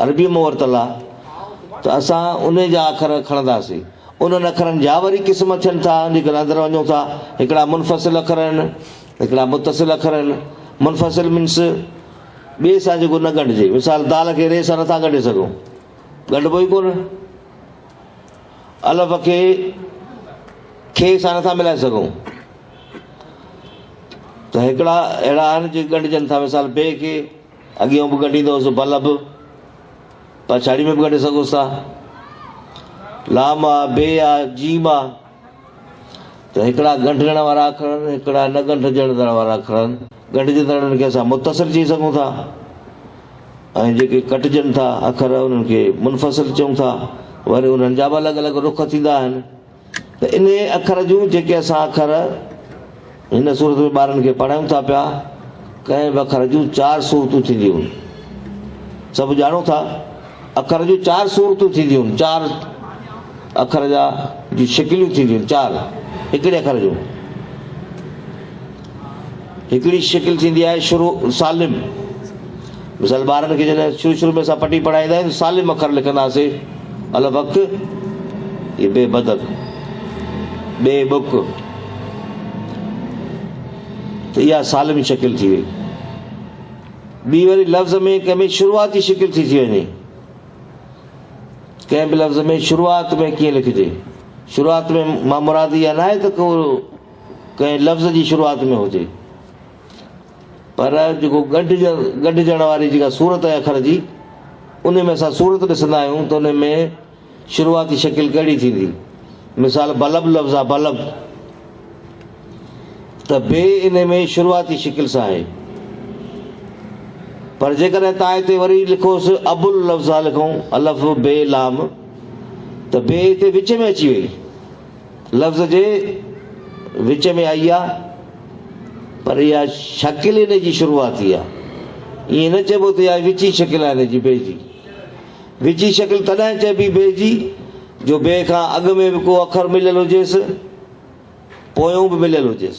عربيء مان ورتل آهي ته اسان انهي جا اکر کڻنداسين انهن اکرن جا وري قسم ٿين ٿا ان جي ڪري اندر وڃون ٿا هڪڙا منفصل اکر آهن هڪڙا متصل اکر آهن منفصل مينس ٻئي سان جيڪو نه ڳنڍجي مثال دال کي ري سان نٿا ڳنڍي سگهون ڳنڍبو ئي ڪونه الف کي کي سان نٿا ملائي سگهون ته هڪڙا اهڙا آهن جي ڳنڍجن ٿا مثال بي کي اڳيئون به ڳنڍيندو هوس ڀل به پڇاڙي ۾ به ڳنڍي سگهوس ٿا لام آ بي آ جيم آ ته هڪڙا ڳنڍجڻ وارا اکر آهن هڪڙا نه ڳنڍجڻ وارا اکر آهن ڳنڍجندڙن کي اسان متصل چئي سگهون ٿا ۽ جيڪي ڪٽجن ٿا اکر انهن کي منفصل چئون ٿا وري انهن جا به الڳ الڳ رخ ٿيندا آهن ته انهيء اکر جون جيڪي اسان اکر هن سورت ۾ ٻارن کي پڙهايون ٿا پيا، ڪنهن به اکر جون چار صورتون ٿينديون. سڀ ڄاڻو ٿا اکر جون چار صورتون ٿينديون، چار اکر جا جون شڪليون ٿينديون، چار هڪڙي اکر جون. هڪڙي شڪل ٿيندي آهي شروع سالم مثال ٻارن کي جڏهن شروع شروع ۾ اسان پٽي پڙهائيندا آهيون سالم اکر لکنداسي الف اک هي بي بدڪ بي بک ته اها سالم شڪل ٿي وئي ٻي وري لفظ ۾ ڪنهن ۾ شروعاتي شڪل ٿي ٿي وڃي ڪنهن به لفظ ۾ شروعات ۾ ڪيئن لکجي شروعات ۾ مان مرادي اها نه آهي ته ڪو ڪنهن لفظ جي شروعات ۾ هجي پر جيڪو ڳنڍجڻ واري جيڪا صورت آهي اکر جي ان ۾ اسان صورت ڏسندا آهيون ته ان ۾ شروعاتي شڪل ڪهڙي ٿيندي مثال بلب لفظ آهي بلب ته بي ان ۾ شروعاتي شڪل سان آهي پر جيڪڏهن تان هتي وري لکوس ابل لفظ آهي لکون الف بي لام ته بي هتي وچ ۾ اچي وئي لفظ جي وچ ۾ آئي آ پر اها شڪل ئي ان جي شروعاتي آ. ائين نه چئبو ته اها وچين شڪل آ ان جي، بي جي. وچين شڪل تڏهن چئبي بي جي جو بي کان اڳ ۾ به ڪو اکر مليل هجيس پويون به مليل هجيس.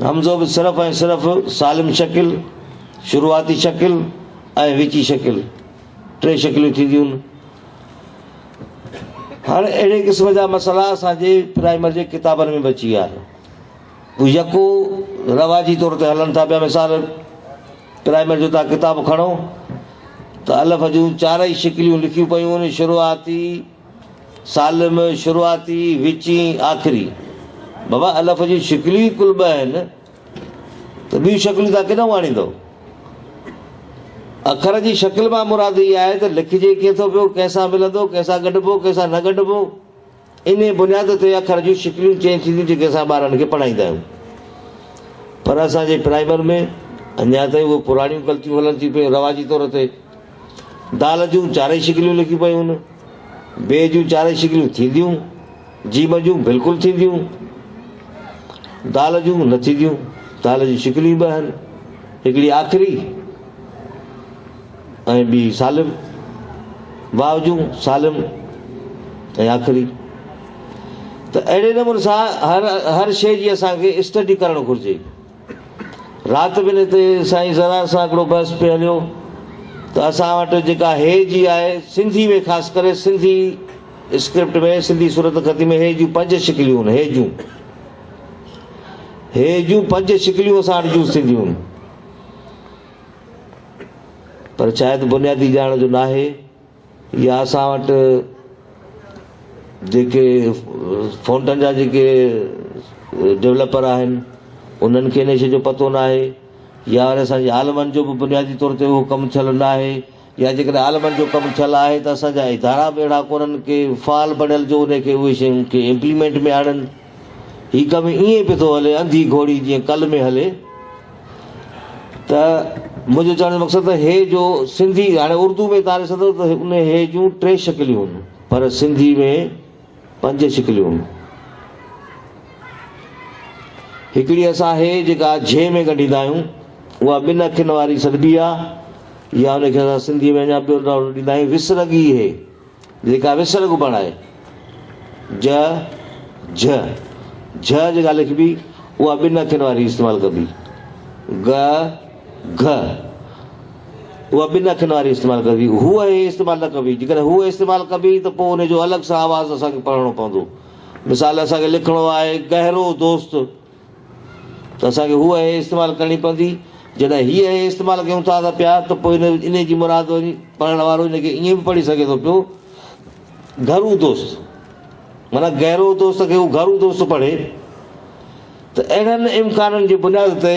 همزو به صرف ۽ صرف سالم شڪل، شروعاتي شڪل ۽ وچي شڪل، ٽي شڪليون ٿينديون. هاڻ اهڙي قسم جا مسئلا اسان جي پرائمري جي ڪتابن ۾ به اچي ويا آهن. هو يڪو رواجي طور تي هلن ٿا پيا. مثال پرائمري جو تان ڪتاب کڻو ته الف جون چارئي شڪليون لکيون پيون آهن، شروعاتي، سالم، شروعاتي، وچين، آخري. بابا الف جون شڪليون ئي ڪل ٻه آهن ته ٻيون شڪليون توهان ڪيڏانهن آڻيندؤ؟ اکر جي شڪل مان مراد اها آهي ته لکجي ڪيئن ٿو پيو، ڪنهن سان ملندو، ڪنهن سان ڳنڍبو، ڪنهن سان نه ڳنڍبو. انهيء بنياد تي اکر جون شڪليون چينج ٿينديون جيڪي اسان ٻارڙن کي پڙهائيندا آهيون. پر اسان جي پرائمر ۾ اڃا تائين اهي پراڻيون غلطيون هلن ٿيون پيون رواجي طور تي. دال جون چارئي شڪليون لکيون پيون. ب جون چارئي شڪليون ٿينديون. ج جون بلڪل ٿينديون. د جون نه ٿينديون. د جون شڪليون ٻه آهن. هڪڙي آخري ۽ ٻي سالم. و جون سالم ۽ آخري. ته اهڙي نموني سان هر شيء جي اسان کي اسٽڊي ڪرڻ گهرجي. رات بنهه تي سائين زرار سان هڪڙو بحث پئي هليو ته اسان وٽ جيڪا هيء جي آهي، سنڌي ۾ خاص ڪري سنڌي اسڪرپٽ ۾ سنڌي صورتخطي ۾ هيء جون پنج شڪليون هن، هيء جون. هيء جون پنج شڪليون اسان وٽ يوز ٿينديون هن. پر شايد بنيادي ڄاڻ جو ناهي. يا اسان وٽ جيڪي فونٽن جا جيڪي ڊولپر آهن انهن کي ان شيء جو پتو ناهي يا وري اسان جي عالمن جو به بنيادي طور تي اهو ڪم ٿيل ناهي يا جيڪڏهن عالمن جو ڪم ٿيل آهي ته اسان جا ادارا به اهڙا ڪونهن ڪي فعال بڻيل جو ان کي اهي شيون کي امپليمينٽ ۾ آڻن هي ڪم ائين پيو ٿو هلي انڌي گهوڙي جيئن ڪل ۾ هلي ته منهنجو چوڻ جو مقصد ته هي جو سنڌي هاڻي اردو ۾ تاري سندو ته ان هي جون ٽي شڪليون هن پر سنڌي ۾ پنج شڪليون هن هڪڙي اسان هي جيڪا جهي ۾ ڳنڍيندا آهيون اها ٻن اکين واري سڏبي آهي يا ان کي اسان سنڌي ۾ اڃا ٻيو نالو ڏيندا آهيون وسرڳي هي جيڪا وسر ڳڀڻ آهي. ج، جهه، جهه جيڪا لکبي، اها ٻن اکين واري استعمال ڪبي. گ، گهه، اها ٻن اکين واري استعمال ڪبي. هوء هي استعمال نه ڪبي. جيڪڏهن هوء استعمال ڪبي ته پوء ان جو الڳ سان آواز اسان کي پڙهڻو پوندو. مثال، اسان کي لکڻو آهي، گهرو دوست. ته اسان کي هوء هيء استعمال ڪرڻي پوندي. جڏهن هيء هيء استعمال ڪيون ٿا ته پيا ته پوء انهيء جي مراد وري پڙهڻ وارو ان کي ائين به پڙهي سگهي ٿو پيو گهرو دوست معنيٰ گهرو دوست کي هو گهرو دوست پڙهي ته اهڙن امڪانن جي بنياد تي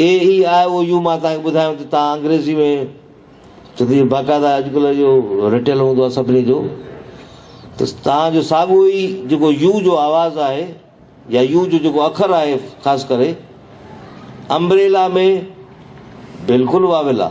اي اي آء او يو مان توهان کي ٻڌايو ته توهان انگريزي ۾ جڏهن باقاعده اڄڪلهه اهو رٽيل هوندو آهي سڀني جو ته توهان جو ساڳو ئي جيڪو يو جو آواز آهي يا يو جو جيڪو اکر آهي خاص ڪري امبريلا ۾ بلڪل واويلا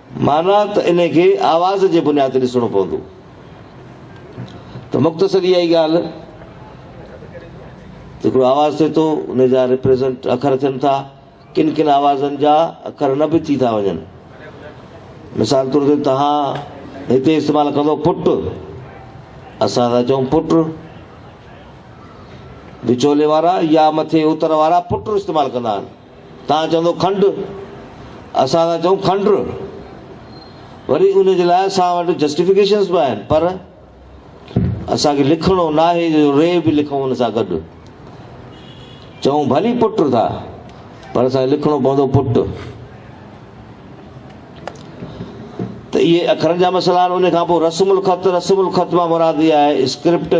معنيٰ ته انهي کي آواز جي بنياد تي ڏسڻو پوندو ته مختصر اها ئي ڳالهه ته هڪڙو آواز ٿئي ٿو ان جا ريپريزنٽ اکر ٿين ٿا ڪن ڪن آوازن جا اکر نه به ٿي ٿا وڃن مثال طور تي تها هتي استعمال ڪندو پٽ اسان ٿا چون پٽ وچولي وارا يا مٿي اتر وارا پٽ استعمال ڪندا آهن توهان چوندو کنڊ، اسان ٿا چئون کنڊ. وري ان جي لاء اسان وٽ جسٽيفڪيشنز به آهن پر اسان کي لکڻو ناهي جو ري به لکون ان سان گڏ. چئون ڀلي پٽ ٿا پر اسان کي لکڻو پوندو پٽ. ته اهي اکرن جا مسئلا آهن. ان کان پوء رسم الخط، رسم الخط مان مراد اها آهي اسڪرپٽ.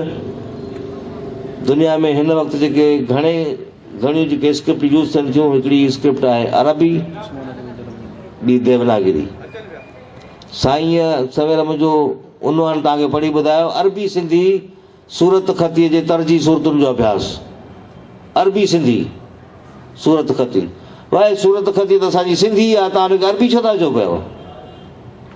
دنيا ۾ هن وقت جيڪي گهڻي گهڻيون جيڪي اسڪرپٽ يوز ٿين ٿيون هڪڙي اسڪرپٽ آهي عربي ٻي ديوناگري سائين سوير منهنجو عنوان تان کي پڙهي ٻڌايو عربي سنڌي صورت خطي جي ترجي صورتن جو اڀياس عربي سنڌي صورت خطي واهي صورت خطي ته اسان جي سنڌي آهي تان هن کي عربي ڇو ٿا چئو پيو.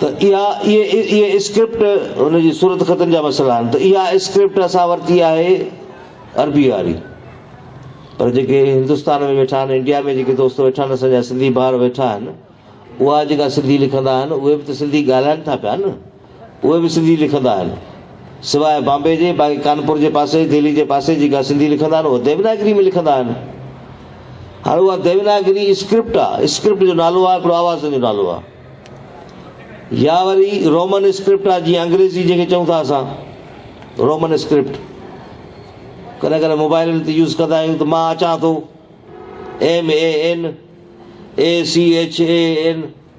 ته اها اهي اسڪرپٽ ان جي صورت خطن جا مسئلا آهن ته اها اسڪرپٽ اسان ورتي آهي عربي واري پر جيڪي هندستان ۾ ويٺا آهن انڊيا ۾ جيڪي دوست ويٺا آهن اسان جا سنڌي ڀار ويٺا آهن اها جيڪا سنڌي لکندا آهن اهي به ته سنڌي ڳالهائن ٿا پيا نه اهي به سنڌي لکندا آهن. سواء بامبي جي، باقي ڪانپور جي پاسي، دهلي جي پاسي جيڪا سنڌي لکندا آهن، اهي ديوناگري ۾ لکندا آهن. هاڻ اها ديوناگري اسڪرپٽ آ، اسڪرپٽ جو نالو آ، هڪڙو آوازن جو نالو آ. يا وري رومن اسڪرپٽ آ، جيئن انگريزي جنهن کي چئون ٿا اسان، رومن اسڪرپٽ. ڪڏهن ڪڏهن موبائلن تي يوز ڪندا آهيون ته مان اچان ٿو، MAN، ACHAN.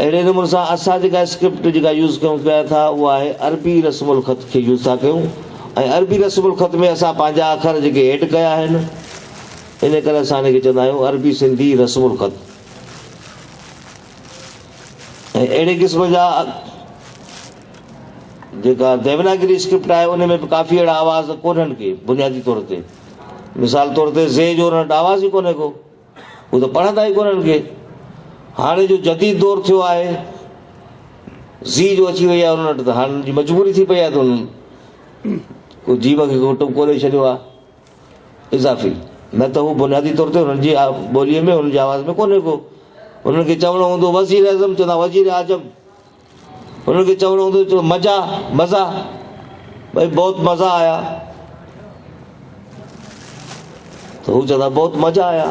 اهڙي نموني سان اسان جيڪا اسڪرپٽ جيڪا يوز ڪيون پيا ٿا اها آهي عربي رسم الخط کي يوز ٿا ڪيون ۽ عربي رسم الخط ۾ اسان پنهنجا اکر جيڪي ايڊ ڪيا آهن ان ڪري اسان ان کي چوندا آهيون عربي سنڌي رسم الخط ۽ اهڙي قسم جا جيڪا ديوناگري اسڪرپٽ آهي ان ۾ به ڪافي اهڙا آواز ڪونهن ڪي بنيادي طور تي مثال طور تي زي جو رٽ آواز ئي ڪونهي ڪو هو ته پڙهندا ئي ڪونه هن کي. هاڻي جو جديد دور ٿيو آهي، زي جو اچي وئي آهي انهن وٽ ته هاڻي انهن جي مجبوري ٿي پئي آهي ته انهن ڪو جيب کي ڪو ٽٻڪو ڏئي ڇڏيو آهي اضافي. نه ته هو بنيادي طور تي انهن جي ٻوليء ۾ انهن جي آواز ۾ ڪونهي ڪو. انهن کي چوڻو هوندو وزيراعظم چوندا وزيراعجم. هنن کي چوڻو هوندو جو مزا مزا ڀئي بهت مزا آيا ته هو چوندا بهت مزا آيا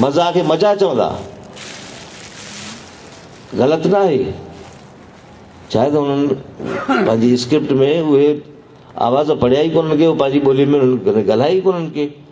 مزا کي مزا چوندا غلط نه آهي چاهي ته هنن پنهنجي اسڪرپٽ ۾ اهي آواز پڙهيا ئي ڪونهن ڪي پنهنجي ٻولي ۾ ڳالهايا ئي ڪونهن ڪي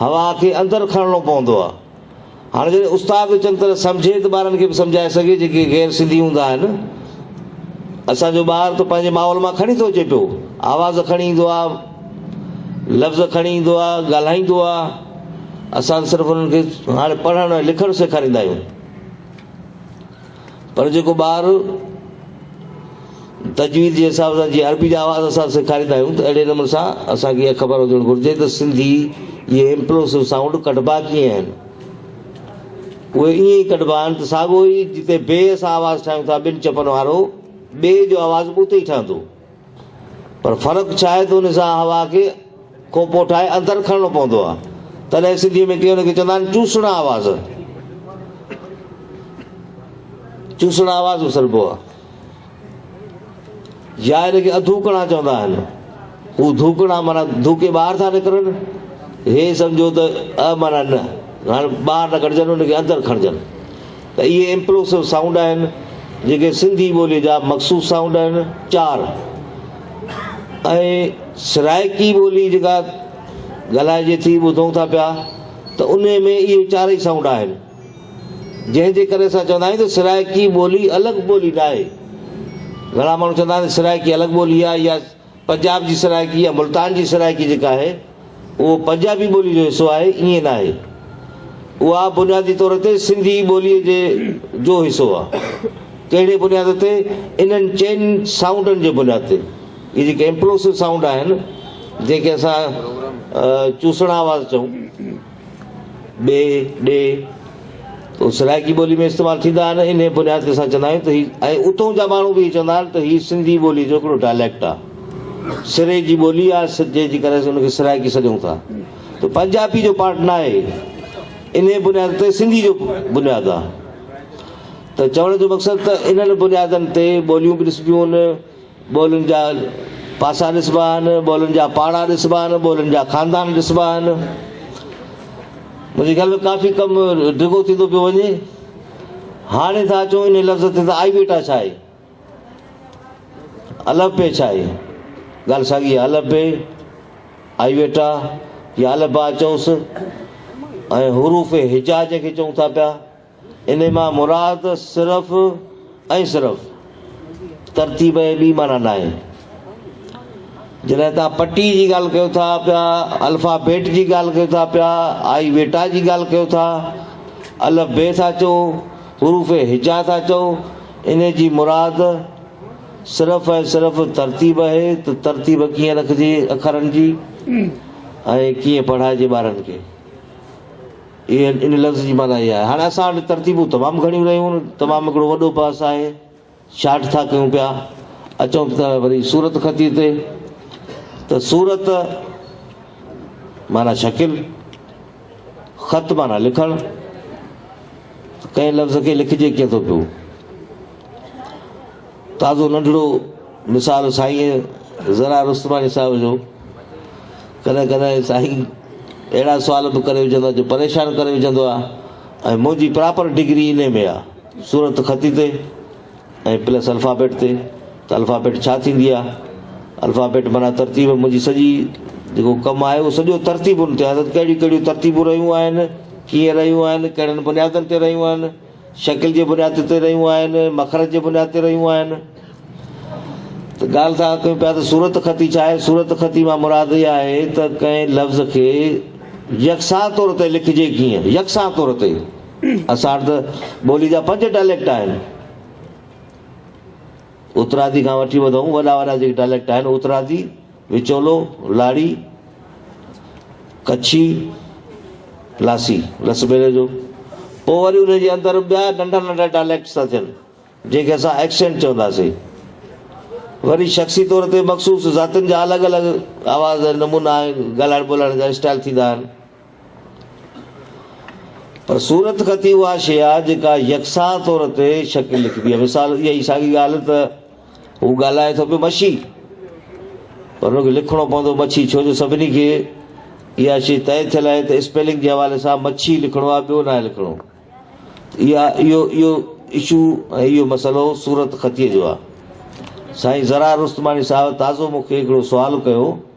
هوا کي اندر کڻڻو پوندو آهي. هاڻي جڏهن استاد به چڱي طرح سمجهي ته ٻارن کي به سمجهائي سگهي جيڪي غير سنڌي هوندا آهن. اسان جو ٻار ته پنهنجي ماحول مان کڻي ٿو اچي پيو. آواز کڻي ايندو آهي، لفظ کڻي ايندو آهي، ڳالهائيندو آهي. اسان صرف انهن کي هاڻي پڙهڻ ۽ لکڻ سيکاريندا آهيون. پر جيڪو ٻار تجويد جي حساب سان جيئن عربي جا آواز اسان سيکاريندا آهيون ته اهڙي نموني سان اسان کي اها خبر هجڻ گهرجي ته سنڌي اهي امپلوسو سائونڊ ڪڍبا ڪيئن آهن. اهي ائين ئي ڪڍبا آهن ته ساڳو ئي جتي بي اسان آواز ٺاهيون ٿا ٻن چپن وارو بي جو آواز به اتي ئي ٺهندو. پر فرق ڇا آهي ته ان سان هوا کي کوپو ٺاهي اندر کڻڻو پوندو آهي. تڏهن سنڌيء ۾ ڪي ان کي چوندا آهن چوسڙا آواز. چوسڙا آواز اسربو آهي. يا ان کي اڌوڪڙا چوندا آهن. هو ڌوڪڙا معنيٰ ڌوڪي ٻاهر ٿا نڪرن. هي سمجهو ته اء معنيٰ نه. هاڻي ٻاهر نه ڪڍجن، ان کي اندر کڻجن. ته اهي امپلوسو سائونڊ آهن جيڪي سنڌي ٻوليء جا مخصوص سائونڊ آهن. چار ۽ سرائيڪي ٻولي جيڪا ڳالهائجي ٿي، ٻڌون ٿا پيا ته انهيء ۾ اهي چارئي سائونڊ آهن. جنهن جي ڪري اسان چوندا آهيون ته سرائيڪي ٻولي الڳ ٻولي ناهي. گهڻا ماڻهو چوندا آهن ته سرائيڪي الڳ ٻولي آهي يا پنجاب جي سرائيڪي يا ملتان جي سرائيڪي جيڪا آهي، اهو پنجابي ٻوليء جو حصو آهي، ائين ناهي. اها بنيادي طور تي سنڌي ٻوليء جي جو حصو آهي. ڪهڙي بنياد تي؟ انهن چئن سائونڊن جي بنياد تي. اهي جيڪي امپلوسو سائونڊ آهن، جنهن کي اسان چوسڻ آواز چئون، ڏي، ڏي، سرائيڪي ٻولي ۾ استعمال ٿيندا آهن، انهيء بنياد تي اسان چوندا آهيون ته هي ۽ اتهون جا ماڻهو به اهي چوندا آهن ته هي سنڌي ٻولي جو هڪڙو ڊائليڪٽ آهي، سري جي ٻولي آهي، جنهن جي ڪري اسين ان کي سرائيڪي سڏيون ٿا ته پنجابي جو پارٽ ناهي، انهيء بنياد تي سنڌي جو بنياد آهي ته چوڻ جو مقصد ته انهن بنيادن تي ٻوليون به ڏسبيون آهن، ٻولين جا پاسا ڏسبا آهن، ٻولين جا پاڙا ڏسبا آهن، ٻولين جا خاندان ڏسبا آهن. منهنجي خيال ۾ ڪافي ڪم ڊگهو ٿيندو پيو وڃي. هاڻي ٿا اچون ان لفظ تي ته آئي بيٽا ڇا آهي؟ الف بي ڇا آهي؟ ڳالهه ساڳي آهي الف بي، آئي بيٽا يا الف با چئوس ۽ حروف هجا جنهن کي چئون ٿا پيا. ان مان مراد صرف ۽ صرف ترتيب ۽ ٻي معنيٰ ناهي. جڏهن توهان پٽي جي ڳالهه ڪيو ٿا پيا، الفا بيٽ جي ڳالهه ڪيو ٿا پيا، آئي ويٽا جي ڳالهه ڪيو ٿا، الف بي ٿا چئو، حروف هجا ٿا چئو، ان جي مراد صرف ۽ صرف ترتيب اهي ته ترتيب ڪيئن رکجي اکرن جي ۽ ڪيئن پڙهائجي ٻارن کي. اي اينڊ ان لفظ جي معنيٰ اها آهي. هاڻي اسان وٽ ترتيبون تمام گهڻيون رهيون، تمام هڪڙو وڏو بحث آهي، شارٽ ٿا ڪيون پيا، اچون ته وري صورت خطيء تي ته صورت معنيٰ شڪل، خط معنيٰ لکڻ، ته ڪنهن لفظ کي لکجي ڪيئن ٿو پيو. تازو ننڍڙو مثال سائين زرار رستماڻي صاحب جو. ڪڏهن ڪڏهن سائين اهڙا سوال به ڪري وجهندا جو پريشان ڪري وجهندو آ ۽ منهنجي پراپر ڊگري انهي ۾ آ صورت خطي تي ۽ پلس الفابيٽ تي ته الفابيٽ ڇا ٿيندي آ الفابيٽ معنيٰ ترتيب منهنجي سڄي جيڪو ڪم آهي اهو سڄو ترتيبن تي آ ته ڪهڙيون ڪهڙيون ترتيبون رهيون آهن ڪيئن رهيون آهن ڪهڙن بنيادن تي رهيون آهن شڪل جي بنياد تي رهيون آهن، مخرج جي بنياد تي رهيون آهن ته ڳالهه ٿا ڪيون پيا ته صورت خطي ڇا آهي؟ صورت خطي مان مراد اها آهي ته ڪنهن لفظ کي يڪسان طور تي لکجي ڪيئن؟ يڪسان طور تي اسان وٽ ته ٻولي جا پنج ڊائليڪٽ آهن. اترادي کان وٺي ٻڌئون وڏا وڏا جيڪي ڊائليڪٽ آهن اترادي، وچولو، لاڙي، ڪڇي، لاسي، لس ٻيلي جو، پوء وري ان جي اندر ٻيا ننڍا ننڍا ڊائليڪٽس ٿا ٿين، جنهن کي اسان ايڪسينٽ چونداسين. وري شخصي طور تي مخصوص ذاتين جا الڳ الڳ آواز ۽ نمونا آهن، ڳالهائڻ ٻولهائڻ جا اسٽائيل ٿيندا آهن. پر صورت خطي اها شيء آهي، جيڪا يڪسان طور تي شڪل لکبي آهي. مثال، اها ئي ساڳي ڳالهه ته هو ڳالهائي ٿو پيو مڇي پر هن کي لکڻو پوندو مڇي ڇو جو سڀني کي اها شي طئي ٿيل آهي ته اسپيلنگ جي حوالي سان مڇي لکڻو آهي ٻيو ناهي لکڻو اها اهو اهو اشو ۽ اهو مسئلو صورت خطي جو آهي سائين زرار رستماڻي صاحب تازو مون کي هڪڙو سوال ڪيو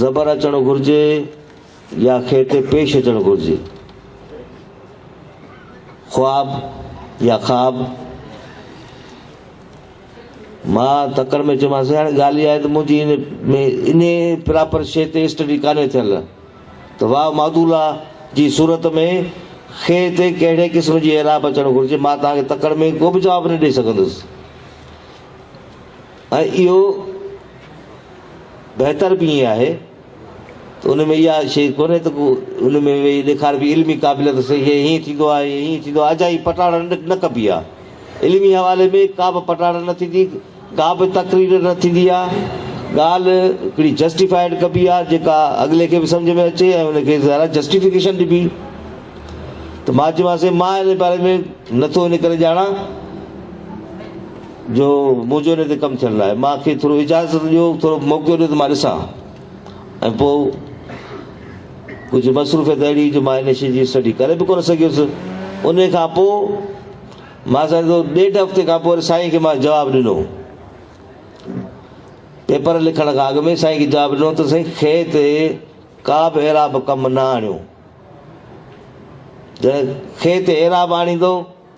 زبر اچڻ گهرجي يا کي تي پيش اچڻ گهرجي. خواب يا خاب. مان تڪڙ ۾ چيومانس هاڻي ڳالهه اها آهي ته منهنجي ان ۾ انهي پراپر شيء تي اسٽڊي ڪانهي ٿيل ته واو معدوله جي صورت ۾ کي تي ڪهڙي قسم جي اعراب اچڻ گهرجي. مان توهان کي تڪڙ ۾ ڪو به جواب نه ڏئي سگهندس. ۽ اهو بهتر به ائين آهي ته ان ۾ اها شيء ڪونهي ته ڪو ان ۾ ويهي ڏيکاربي علمي قابليت سان هيء هيئن ٿيندو آهي هيء هيئن ٿيندو آهي اجائي پٽاڙڻ نه ڪبي آهي علمي حوالي ۾ ڪابه پٽاڙڻ نه ٿيندي ڪابه تقرير نه ٿيندي آهي ڳالهه هڪڙي جسٽيفائيڊ ڪبي آهي جيڪا اڳلي کي به سمجهه ۾ اچي ۽ ان کي ظاهر آهي جسٽيفڪيشن ڏبي ته مان چيومانس سائين مان ان باري ۾ نه ٿو ان ڪري ڄاڻان جو منهنجو ان تي ڪم ٿيڻ لاء مان کي ٿورو اجازت ڏيو ٿورو موقعو ڏيو ته مان ڏسان ۽ پوء ڪجهه مصروفيت اهڙي جو مان ان شيء جي اسٽڊي ڪري به ڪونه سگهيس ان کان پوء مان سمجهو ڏيڍ هفتي کان پوء سائين کي مان جواب ڏنو پيپر لکڻ کان اڳ ۾ سائين کي جواب ڏنو ته سائين کي تي ڪا به اعراب ڪم نه آڻيو جڏهن کي تي اعراب آڻيندو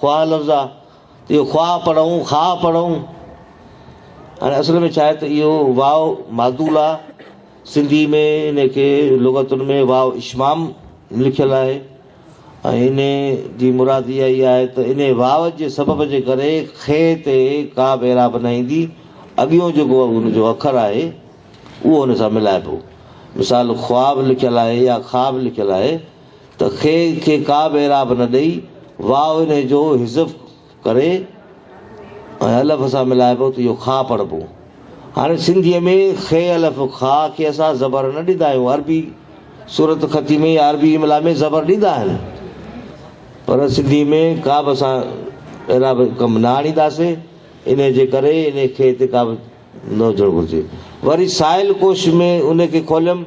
خواهه لفظ آ اهو خواهه پڙهون خاهه پڙهون هاڻي اصل ۾ ڇا آهي ته اهو واو معدول آ سنڌي ۾ ان کي لغتن ۾ واو اشمام لکيل آهي ۽ ان جي مراد اها ئي آهي ته ان واو جي سبب جي ڪري خ تي ڪا به اعراب نه ايندي اڳيون جيڪو ان جو اکر آهي اهو ان سان ملائبو مثال خواهه به لکيل آهي يا خاهه به لکيل آهي ته خي کي ڪا به اعراب نه ڏئي واء انهي جو حذف ڪري ۽ الف سان ملائبو ته اهو خا پڙهبو. هاڻي سنڌيء ۾ خي الف خا کي اسان زبر نه ڏيندا آهيون عربي صورت خطي ۾ يا عربي املا ۾ زبر ڏيندا آهن پر سنڌي ۾ ڪابه اسان اعراب ڪم نه آڻينداسي انهي جي ڪري انهي خي تي ڪابه نه هجڻ گهرجي وري سائل ڪوش ۾ انهي کي کوليم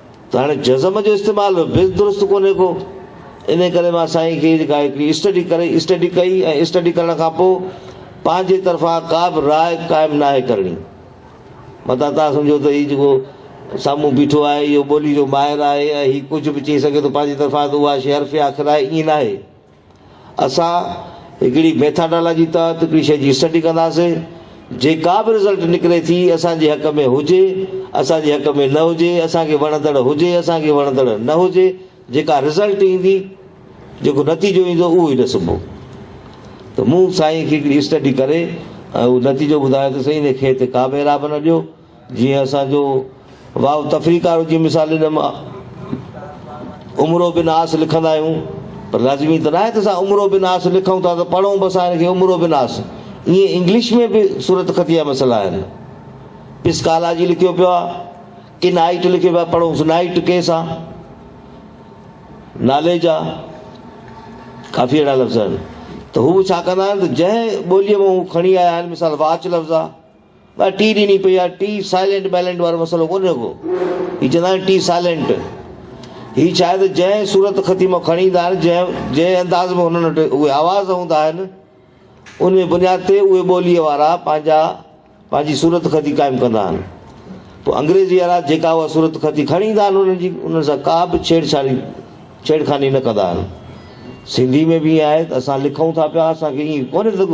ته هاڻي جزم جو استعمال به درست ڪونهي ڪو. انهيء ڪري مان سائين کي جيڪا هڪڙي اسٽڊي ڪري، Study، ڪئي ۽ اسٽڊي ڪرڻ کان پوء پنهنجي طرفان ڪا به راء قائم ناهي ڪرڻي. متان توهان سمجهو ته هي جيڪو سامهون بيٺو آهي، اهو ٻولي جو ماهر آهي ۽ هي ڪجهه به چئي سگهي ٿو پنهنجي طرفان ته اها شيء حرف آخر آهي، ائين ناهي. اسان هڪڙي ميٿاڊالاجي تحت هڪڙي شيء جي اسٽڊي ڪنداسين، جيڪا به رزلٽ نڪري ٿي اسان جي حق ۾ هجي اسان جي حق ۾ نه هجي، اسان کي وڻندڙ هجي اسان کي وڻندڙ نه هجي، جيڪا رزلٽ ايندي، جيڪو نتيجو ايندو اهو ئي ڏسبو. ته مون سائين کي هڪڙي اسٽڊي ڪري ۽ اهو نتيجو ٻڌايو ته سائين هن کيت ڪا به اعراب نه ڏيو. جيئن اسان جو واو تفريقارو جي مثال ڏنم عمرو بن عاص لکندا آهيون پر لازمي ته ناهي ته اسان عمرو بن عاص لکون ٿا ته پڙهون به اسان هن کي عمرو بن عاص ائين انگلش ۾ به صورت خطي جا مسئلا آهن پسڪالاجي لکيو پيو آهي ڪن آئٽ لکيو پيو آهي پڙهونس نائٽ ڪيس آهي نالي جا ڪافي اهڙا لفظ آهن ته هو ڇا ڪندا آهن ته جنهن ٻوليء مان هو کڻي آيا آهن مثال واچ لفظ آهي ٻه ٽي ڏني پئي آ ٽي سائلنٽ بيلنٽ وارو مسئلو ڪونهي رڳو هي چوندا آهن ٽي سائلنٽ هي ڇا آهي ته جنهن صورت خطي مان کڻي ايندا آهن جنهن جنهن انداز ۾ هنن وٽ اهي آواز هوندا آهن ان جي بنياد تي اهي ٻوليء وارا پنهنجا پنهنجي صورت خطي قائم ڪندا آهن پوء انگريزي وارا جيڪا اها صورت خطي کڻي ايندا آهن انهن جي انهن سان ڪا به ڇيڙ ڇاڙي ڇيڙخاني نه ڪندا آهن سنڌي ۾ به ائين آهي ته اسان لکون ٿا پيا اسان کي ائين ڪونهي ته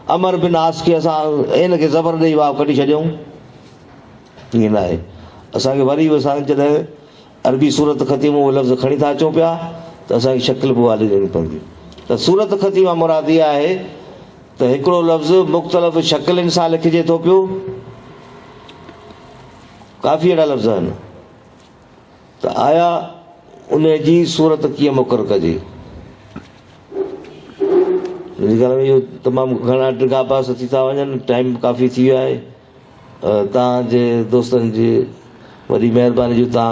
عمر بن عاص کي اسان عين کي زبر ڏيئي واء ڪڍي ڇڏيائون؟ ائين ناهي. اسان کي وري به اسان جڏهن عربي صورت خطيء مان اهي لفظ کڻي ٿا اچون پيا ته اسان کي شڪل به اها ڏيڻي پوندي ته صورت خطيء مان مراد اها آهي ته هڪڙو لفظ مختلف شڪلين سان لکجي ٿو پيو. ڪافي اهڙا لفظ آهن. ته آيا انهيء جي صورت ڪيئن مقرر ڪجي؟ منهنجي خيال ۾ اهو تمام گهڻا ڊگها بحث ٿي ٿا وڃن، ٽائيم ڪافي ٿي ويو آهي. توهان جي دوستن جي وڏي مهرباني جو توهان